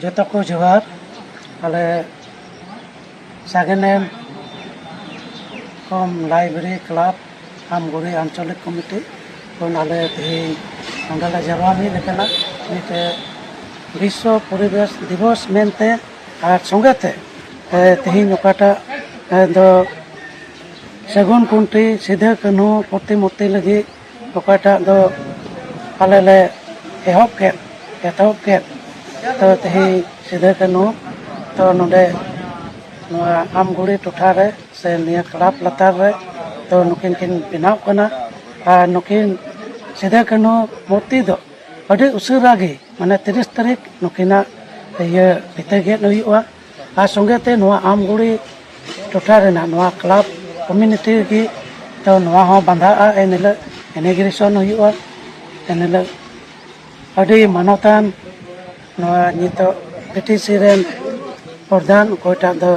ᱡᱚᱛᱚ ᱠᱚ ᱡᱚᱦᱟᱨ ᱟᱞᱮ ᱥᱟᱜᱮᱱᱮᱢ ᱠᱚᱢ ᱞᱟᱭᱵᱨᱮᱨᱤ ᱠᱞᱟᱵᱽ ᱟᱢᱜᱩᱲᱤ ᱟᱧᱪᱚᱞᱤᱠ ᱠᱚᱢᱤᱴᱤ ᱠᱷᱚᱱ ᱟᱞᱮ ᱛᱮᱦᱮᱧ ᱱᱚᱸᱰᱮ ᱞᱮ ᱡᱟᱨᱣᱟ ᱢᱤᱫ ᱟᱠᱟᱱᱟ ᱢᱤᱫᱴᱮᱡ ᱵᱤᱥᱥᱚ ᱯᱚᱨᱤᱵᱮᱥ ᱫᱤᱵᱚᱥ ᱢᱮᱱᱛᱮ ᱟᱨ ᱥᱚᱸᱜᱮ ᱛᱮ ᱛᱮᱦᱮᱧ ᱚᱠᱟᱴᱟᱜ ᱫᱚ ᱥᱟᱹᱜᱩᱱ ᱠᱷᱩᱱᱴᱤ ᱥᱤᱫᱩ ᱠᱟᱹᱱᱦᱩ ᱯᱨᱚᱛᱤᱢᱩᱨᱛᱤ ᱞᱟᱹᱜᱤᱫ ᱚᱠᱟᱴᱟᱜ ᱫᱚ ᱟᱞᱮ ᱞᱮ ᱮᱦᱚᱵ ᱠᱮᱫ ᱮᱛᱚᱦᱚᱵ ᱠᱮᱫ ᱛᱚ ᱛᱮᱦᱮᱧ ᱥᱤᱫᱩ ᱠᱟᱹᱱᱦᱩ ᱛᱚ ᱱᱚᱰᱮ ᱱᱚᱣᱟ ᱟᱢᱜᱷᱩᱲᱤ ᱴᱚᱴᱷᱟ ᱨᱮ ᱥᱮ ᱱᱤᱭᱟᱹ ᱠᱞᱟᱵᱽ ᱞᱟᱛᱟᱨ ᱨᱮ ᱛᱚ ᱱᱩᱠᱤᱱ ᱠᱤᱱ ᱵᱮᱱᱟᱣ ᱠᱟᱱᱟ ᱟᱨ ᱱᱩᱠᱤᱱ ᱥᱤᱫᱩ ᱠᱟᱹᱱᱦᱩ ᱢᱩᱨᱛᱤ ᱫᱚ ᱟᱹᱰᱤ ᱩᱥᱟᱹᱨᱟ ᱜᱮ ᱢᱟᱱᱮ ᱛᱤᱨᱤᱥ ᱛᱟᱹᱨᱤᱠᱷ ᱱᱩᱠᱤᱱᱟᱜ ᱤᱭᱟᱹ ᱵᱤᱫᱟᱹ ᱜᱮᱫ ᱦᱩᱭᱩᱜᱼᱟ ᱟᱨ ᱥᱚᱸᱜᱮ ᱛᱮ ᱱᱚᱣᱟ ᱟᱢᱜᱩᱲᱤ ᱴᱚᱴᱷᱟ ᱨᱮᱱᱟᱜ ᱱᱚᱣᱟ ᱠᱞᱟᱵᱽ ᱠᱚᱢᱤᱱᱤᱴᱤ ᱨᱮᱜᱮ ᱛᱚ ᱱᱚᱣᱟ ᱦᱚᱸ ᱵᱟᱸᱫᱷᱟᱜᱼᱟ ᱮᱱ ᱦᱤᱞᱳᱜ ᱤᱱᱤᱜᱨᱮᱥᱚᱱ ᱦᱩᱭᱩᱜᱼᱟ ᱮᱱ ᱦᱤᱞᱳᱜ ᱟᱹᱰᱤ ᱢᱟᱱᱚᱛᱟᱱ ᱱᱚᱣᱟ ᱱᱤᱛᱚᱜ ᱵᱤᱴᱤᱥᱤ ᱨᱮᱱ ᱯᱨᱚᱫᱷᱟᱱ ᱚᱠᱚᱭᱴᱟᱜ ᱫᱚ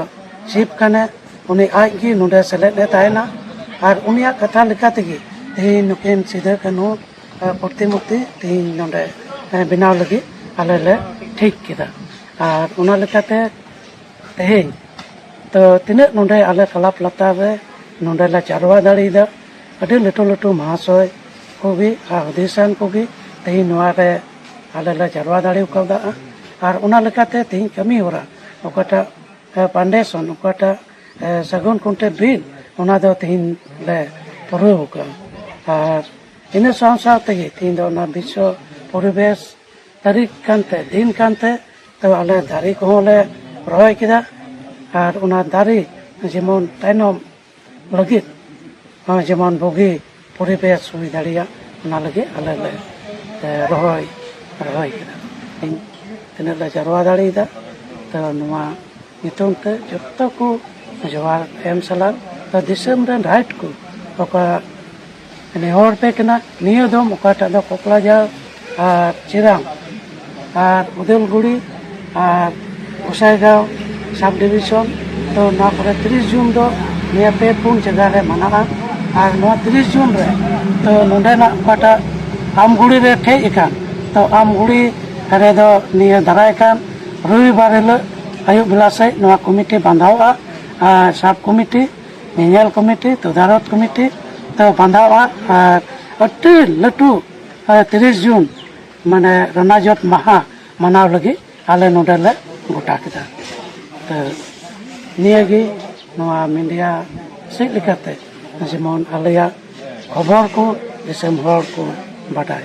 ᱪᱤᱯ ᱠᱟᱱᱟᱭ ᱩᱱᱤ ᱟᱡ ᱜᱮ ᱱᱚᱰᱮ ᱥᱮᱞᱮᱫ ᱮ ᱛᱟᱦᱮᱱᱟ ᱟᱨ ᱩᱱᱤᱭᱟᱜ ᱠᱟᱛᱷᱟ ᱞᱮᱠᱟ ᱛᱮᱜᱮ ᱛᱮᱦᱮᱧ ᱱᱩᱠᱤᱱ ᱥᱤᱫᱟᱹ ᱠᱟᱹᱱᱦᱩ ᱯᱨᱚᱛᱤᱢᱩᱨᱛᱤ ᱛᱮᱦᱮᱧ ᱱᱚᱰᱮ ᱵᱮᱱᱟᱣ ᱞᱟᱹᱜᱤᱫ ᱟᱞᱮ ᱞᱮ ᱴᱷᱤᱠ ᱠᱮᱫᱟ ᱟᱨ ᱚᱱᱟ ᱞᱮᱠᱟᱛᱮ ᱛᱮᱦᱮᱧ ᱛᱚ ᱛᱤᱱᱟᱹᱜ ᱱᱚᱰᱮ ᱟᱞᱮ ᱠᱞᱟᱵᱽ ᱞᱟᱛᱟᱨ ᱨᱮ ᱱᱚᱰᱮ ᱞᱮ ᱪᱟᱨᱣᱟ ᱫᱟᱲᱮᱭᱟᱫᱟ ᱟᱹᱰᱤ ᱞᱟᱹᱴᱩ ᱞᱟᱹᱴᱩ ᱢᱚᱦᱟᱥᱚᱭ ᱠᱚᱜᱮ ᱟᱨ ᱦᱩᱫᱤᱥᱟᱱ ᱠᱚᱜᱮ ᱛᱮᱦᱮᱧ ᱱᱚᱣᱟ ᱨᱮ ᱟᱞᱮ ᱞᱮ ᱪᱟᱨᱣᱟ ᱫᱟᱲᱮ ᱠᱟᱣᱫᱟ ᱟᱨ ᱚᱱᱟ ᱞᱮᱠᱟᱛᱮ ᱛᱮᱦᱮᱧ ᱠᱟᱹᱢᱤ ᱦᱚᱨᱟ ᱚᱠᱟᱴᱟᱜ ᱯᱟᱱᱰᱮᱥᱚᱱ ᱚᱠᱟᱴᱟᱜ ᱥᱟᱹᱜᱩᱱ ᱠᱚᱱᱴᱮ ᱵᱤᱞ ᱚᱱᱟ ᱫᱚ ᱛᱮᱦᱮᱧ ᱞᱮ ᱯᱩᱨᱟᱹᱣ ᱠᱟᱜᱼᱟ ᱟᱨ ᱤᱱᱟᱹ ᱥᱟᱶ ᱥᱟᱶ ᱛᱮᱜᱮ ᱛᱮᱦᱮᱧ ᱫᱚ ᱚᱱᱟ ᱵᱤᱥᱥᱚ ᱯᱚᱨᱤᱵᱮᱥ ᱛᱟᱹᱨᱤᱠᱷ ᱠᱟᱱᱛᱮ ᱫᱤᱱ ᱠᱟᱱᱛᱮ ᱛᱚ ᱟᱞᱮ ᱫᱟᱨᱮ ᱠᱚᱦᱚᱸ ᱞᱮ ᱨᱚᱦᱚᱭ ᱠᱮᱫᱟ ᱟᱨ ᱚᱱᱟ ᱫᱟᱨᱮ ᱡᱮᱢᱚᱱ ᱛᱟᱭᱱᱚᱢ ᱞᱟᱹᱜᱤᱫ ᱡᱮᱢᱚᱱ ᱵᱩᱜᱤ ᱯᱚᱨᱤᱵᱮᱥ ᱦᱩᱭ ᱫᱟᱲᱮᱭᱟᱜ ᱚᱱᱟ ᱞᱟᱹᱜᱤᱫ ᱟᱞᱮ ᱞᱮ ᱨᱚᱦᱚᱭ ᱨᱚᱦᱚᱭ ᱠᱮᱫᱟ ᱛᱤᱱᱟᱹᱜ ᱞᱮ ᱡᱟᱨᱣᱟ ᱫᱟᱲᱮᱭᱟᱫᱟ ᱛᱚ ᱱᱚᱣᱟ ᱧᱩᱛᱩᱢ ᱛᱮ ᱡᱚᱛᱚ ᱠᱚ ᱡᱚᱦᱟᱨ ᱮᱢ ᱥᱟᱞᱟᱜ ᱫᱤᱥᱚᱢ ᱨᱮᱱ ᱨᱟᱭᱤᱴ ᱠᱚ ᱚᱠᱟ ᱱᱮᱦᱚᱨ ᱯᱮ ᱠᱟᱱᱟ ᱱᱤᱭᱟᱹ ᱫᱚᱢ ᱚᱠᱟᱴᱟᱜ ᱫᱚ ᱠᱚᱠᱲᱟᱡᱷᱟᱲ ᱟᱨ ᱪᱤᱨᱟᱝ ᱟᱨ ᱩᱫᱟᱹᱞᱜᱩᱲᱤ ᱟᱨ ᱜᱚᱥᱟᱭᱜᱟᱶ ᱥᱟᱵ ᱰᱤᱵᱷᱤᱥᱚᱱ ᱛᱚ ᱱᱚᱣᱟ ᱠᱚᱨᱮ ᱛᱤᱨᱤᱥ ᱡᱩᱱ ᱫᱚ ᱱᱤᱭᱟᱹ ᱯᱮ ᱯᱩᱱ ᱡᱟᱭᱜᱟ ᱨᱮ ᱢᱟᱱᱟᱜᱼᱟ ᱟᱨ ᱱᱚᱣᱟ ᱛᱤᱨᱤᱥ ᱡᱩᱱ ᱨᱮ ᱛᱚ ᱱᱚᱰᱮᱱᱟᱜ ᱚᱠᱟᱴᱟᱜ ᱟᱢᱜᱩᱲᱤ ᱨᱮ ᱴᱷᱮᱡ ᱟᱠᱟᱱ ᱛᱚ ᱟᱢᱜᱩᱲᱤ ᱨᱮᱫᱚ ᱱᱤᱭᱟᱹ ᱫᱟᱨᱟᱭ ᱠᱟᱱ ᱨᱚᱵᱤᱵᱟᱨ ᱦᱤᱞᱳᱜ ᱟᱹᱭᱩᱵ ᱵᱮᱞᱟ ᱥᱮᱡ ᱱᱚᱣᱟ ᱠᱚᱢᱤᱴᱤ ᱵᱟᱸᱫᱷᱟᱣᱚᱜᱼᱟ ᱟᱨ ᱥᱟᱵ ᱠᱚᱢᱤᱴᱤ ᱧᱮᱧᱮᱞ ᱠᱚᱢᱤᱴᱤ ᱛᱚᱫᱟᱨᱚᱛ ᱠᱚᱢᱤᱴᱤ ᱫᱚ ᱵᱟᱸᱫᱷᱟᱣᱟ ᱟᱨ ᱟᱹᱰᱤ ᱞᱟᱹᱴᱩ ᱛᱤᱨᱤᱥ ᱡᱩᱱ ᱢᱟᱱᱮ ᱨᱚᱱᱟᱡᱚᱛ ᱢᱟᱦᱟ ᱢᱟᱱᱟᱣ ᱞᱟᱹᱜᱤᱫ ᱟᱞᱮ ᱱᱚᱰᱮ ᱞᱮ ᱜᱚᱴᱟ ᱠᱮᱫᱟ ᱛᱚ ᱱᱤᱭᱟᱹᱜᱮ ᱱᱚᱣᱟ ᱢᱤᱰᱤᱭᱟ ᱥᱮᱫ ᱞᱮᱠᱟᱛᱮ ᱡᱮᱢᱚᱱ ᱟᱞᱮᱭᱟᱜ ᱠᱷᱚᱵᱚᱨ ᱠᱚ ᱫᱤᱥᱚᱢ ᱦᱚᱲ ᱠᱚ ᱵᱟᱰᱟᱭ